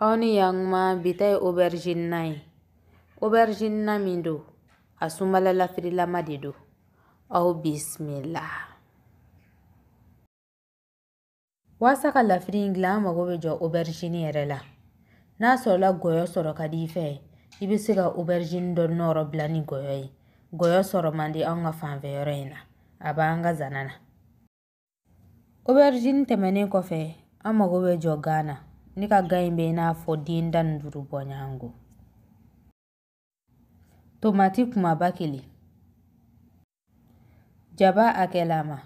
aw ni yankuma bi ta ye aubergine na ye aubergine na min don a sunbala lafirilama de don aw bisimila waasa ka lafiri in dilan an mago bɛ jɔ aubergine yɛrɛ la n'a sɔrɔla gɔyɔ sɔrɔ ka di i fɛ i bɛ se ka aubergine dɔ nɔrɔ bila ni gɔyɔ ye gɔyɔ sɔrɔ man di anw ka fanfɛ yɔrɔ in na a b'an ka zana na Aubergine tɛmɛnen kɔfɛ an mago bɛ jɔ gan na ne ka gan in bɛ i n'a fɔ den tan ni duuru bɔ ɲɔgɔn ko tomati kumaba kelen jaba hakɛlama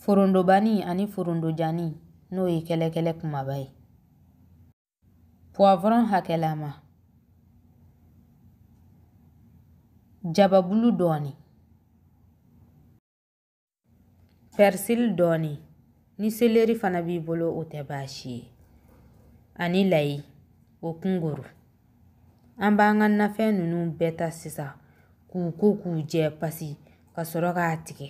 forondobani ani forondojani n'o ye kɛlɛkɛlɛ kumaba ye Poivron hakɛlama. Jababulu dɔɔni. Persil dɔɔni. Ni seleri fana b'i bolo o tɛ baasi ye. Ani layi o kunguru. An b'an ka nafɛn ninnu bɛɛ ta sisan k'u ko k'u jɛ pasi ka sɔrɔ k'a tigɛ.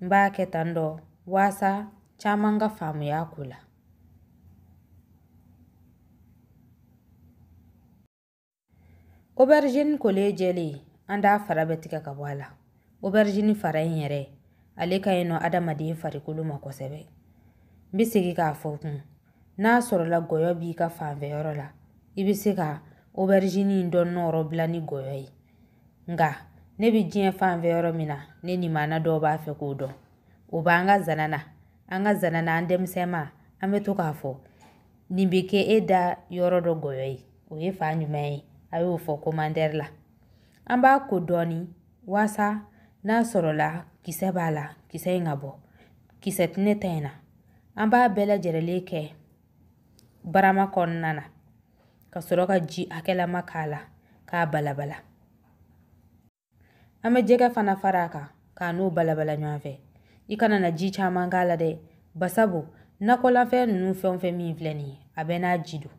N b'a kɛ tan dɔ waasa caman ka faamuya ko la. Oberizini kolen jɛlen an t'a fara bɛɛ tigɛ ka bɔ a la oberizini fara in yɛrɛ ale ka ɲi nɔ adamaden farikolo ma kosɛbɛ n bɛ segin k'a fɔ kun n'a sɔrɔla gɔyɔ b'i ka fanfɛ yɔrɔ la i bɛ se ka oberizini in dɔ nɔrɔ bila ni gɔyɔ ye nka ne bɛ diɲɛ fanfɛ yɔrɔ min na ne nimana dɔw b'a fɛ k'o dɔn o b'an ka zana na an ka zana na an denmisɛnma an bɛ to k'a fɔ nin bɛ kɛ e da yɔrɔ dɔ gɔyɔ ye o ye fan jumɛn ye a y'o fɔ commentaire la an b'a ko dɔɔni waasa n'a sɔrɔla kisɛ b'a la kisɛ in ka bɔ kisɛ tɛ ne ta in na an b'a bɛɛ lajɛlen kɛ barama kɔnɔna na ka sɔrɔ ka ji hakɛlama k'a la k'a balabala an bɛ jɛgɛ fana fara a kan k'a n'o balabala ɲɔgɔn fɛ i kana na ji caman k'a la dɛ basabu nakɔlafɛn ninnu fɛn o fɛn min filɛ nin ye a bɛɛ n'a ji don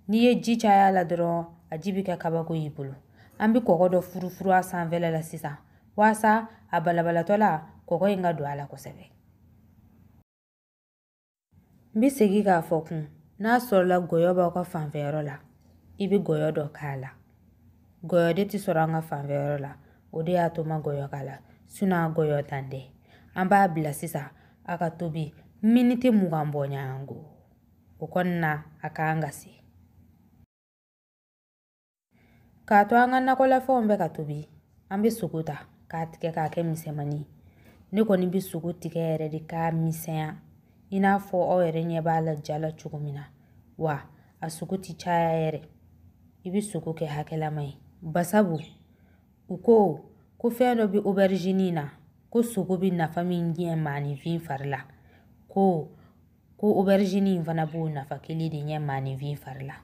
n'i ye ji caya a la dɔrɔn a ji bɛ kɛ kabako y'i bolo an bɛ kɔgɔ dɔ furufuru a sanfɛla la sisan waasa a balabalatɔ la kɔgɔ in ka don a la kosɛbɛ n bɛ segin k'a fɔ kun n'a sɔrɔla gɔyɔ b'aw ka fanfɛyɔrɔ la i bɛ gɔyɔ dɔ k'a la gɔyɔ de tɛ sɔrɔ an ka fanfɛyɔrɔ la o de y'a to n ma gɔyɔ k'a la sinɔn a gɔyɔntan tɛ an b'a bila sisan a ka tobi miniti mugan bɔ ɲɔgɔn ko o kɔnɔna a ka kan ka se k'a to an ka nakɔlafɛnw bɛ ka tobi an bɛ sogo ta k'a tigɛ k'a kɛ misɛnmani ye ne kɔni bɛ sogo tigɛ yɛrɛ de k'a misɛnya i n'a fɔ aw yɛrɛ ɲɛ b'a la ja la cogo min na wa a sogo tɛ caya yɛrɛ i bɛ sogo kɛ hakɛlama ye basabu u ko ko fɛn dɔ bɛ oberizini na ko sogo bɛ nafa min de ɲɛ maaninfin fari la ko ko oberizini in fana b'o nafa kelen de ɲɛ maaninfin fari la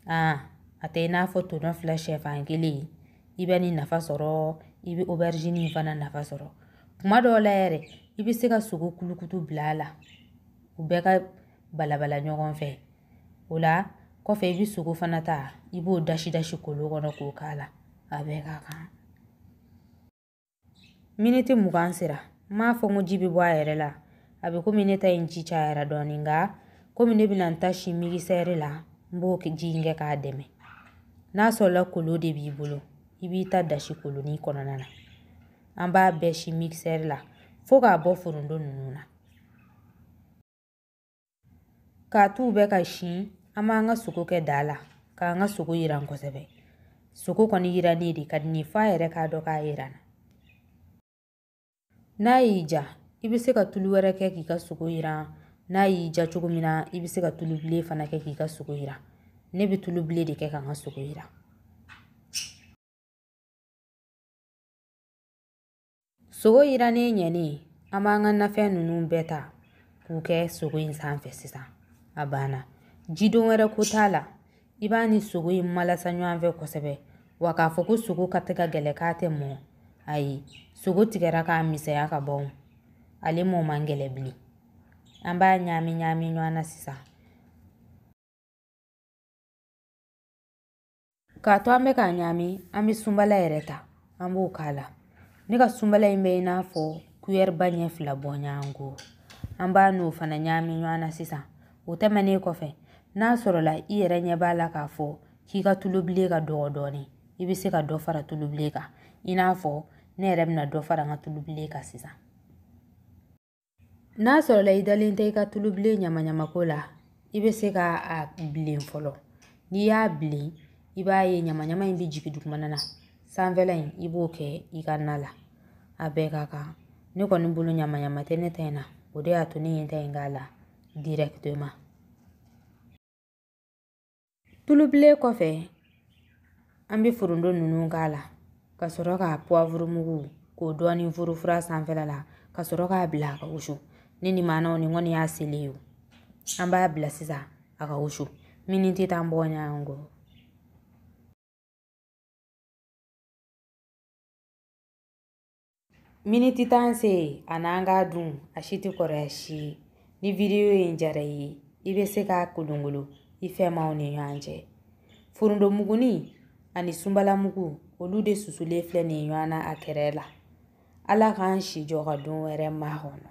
aa a tɛ i n'a fɔ tɔnɔ fila sɛfan kelen i bɛ nin nafa sɔrɔ i bɛ oberizini in fana nafa sɔrɔ kuma dɔw la yɛrɛ i bɛ se ka sogo kulukutu bila a la u bɛɛ ka balabala ɲɔgɔn fɛ o la kɔfɛ i bɛ sogo fana ta i b'o dasi dasi kolon kɔnɔ k'o k'a la a bɛɛ ka kan Miniti mugan sera n m'a fɔ n ko ji bɛ bɔ a yɛrɛ la a bɛ komi ne ta in ji cayara dɔɔnin nka komi ne bɛna n ta si migisɛri la n b'o ji in kɛ k'a dɛmɛ n'a sɔrɔla kolon de b'i bolo i b'i ta dasi kolonin kɔnɔna na an b'a bɛɛ si migisɛri la fo k'a bɔ foronto ninnu na k'a t'u bɛ ka si an b'an ka sogo kɛ daa la k'an ka sogo yiran kosɛbɛ sogo kɔni yirannen de ka di ne ye f'a yɛrɛ k'a dɔn k'a yiranna n'a y'i ja i bɛ se ka tulu wɛrɛ kɛ k'i ka sogo yiran n'a y'i ja cogo min na i bɛ se ka tulu bilen fana kɛ k'i ka sogo yiran ne bɛ tulu bilen de kɛ k'an ka sogo yiran sogo yirannen ɲɛnen an b'an ka nafɛn ninnu bɛɛ ta k'u kɛ sogo in sanfɛ sisan a banna jidon wɛrɛ ko t'a la i b'a ni sogo in malasa ɲɔgɔn fɛ kosɛbɛ wa k'a fɔ ko sogo ka tɛ ka gɛlɛn k'a tɛ mɔ ayi sogo tigɛra k'a misɛnya ka ban ale mɔ man gɛlɛn bilen an b'a ɲaami ɲaami ɲɔgɔn na sisan k'a to an bɛ k'a ɲaami an bɛ sunbala yɛrɛ ta an b'o k'a la ne ka sunbala in bɛ i n'a fɔ kuyɛriba ɲɛ fila bɔɲɔgɔnko an b'a n'o fana ɲaami ɲɔgɔn na sisan o tɛmɛnen kɔfɛ n'a sɔrɔla i yɛrɛ ɲɛ b'a la k'a fɔ k'i ka tulubilen ka dɔgɔ dɔɔnin i bɛ se ka dɔ fara tulubilen kan i n'a fɔ ne yɛrɛ bɛna dɔ fara n ka tulubilen kan sisan n'a sɔrɔla i dalen tɛ i ka tulubilen ɲamaɲamako la i bɛ se k'a bilen fɔlɔ n'i y'a bilen i b'a ye ɲamaɲama in bɛ jigin dugumana na sanfɛla in i b'o kɛ i ka na la a bɛɛ ka kan ne kɔni bolo ɲamaɲama tɛ ne ta in na o de y'a to ne ye n ta in k'a la directement Tulubilen kɔfɛ an bɛ foronto ninnu k'a la ka sɔrɔ ka puwavuru mugu k'o dɔɔnin furufuru a sanfɛla la ka sɔrɔ k'a bila a ka wusu ne ni maanaw ni kɔni y'a selen ye o an b'a bila sisan a ka wusu miniti tan bɔ ɲɔgɔn kɔ Miniti tan sera a n'an k'a dun a si tɛ kɔrɔya si ye ni vidiyo in diyara i ye i bɛ se k'a kolongolo i fɛmaaw ni ɲɔgɔn cɛ forontomuguni ani sunbalamugu olu de susulen filɛ nin ye ɲɔgɔn na a kɛrɛ la ala k'an si jɔ ka don wɛrɛ makɔnɔ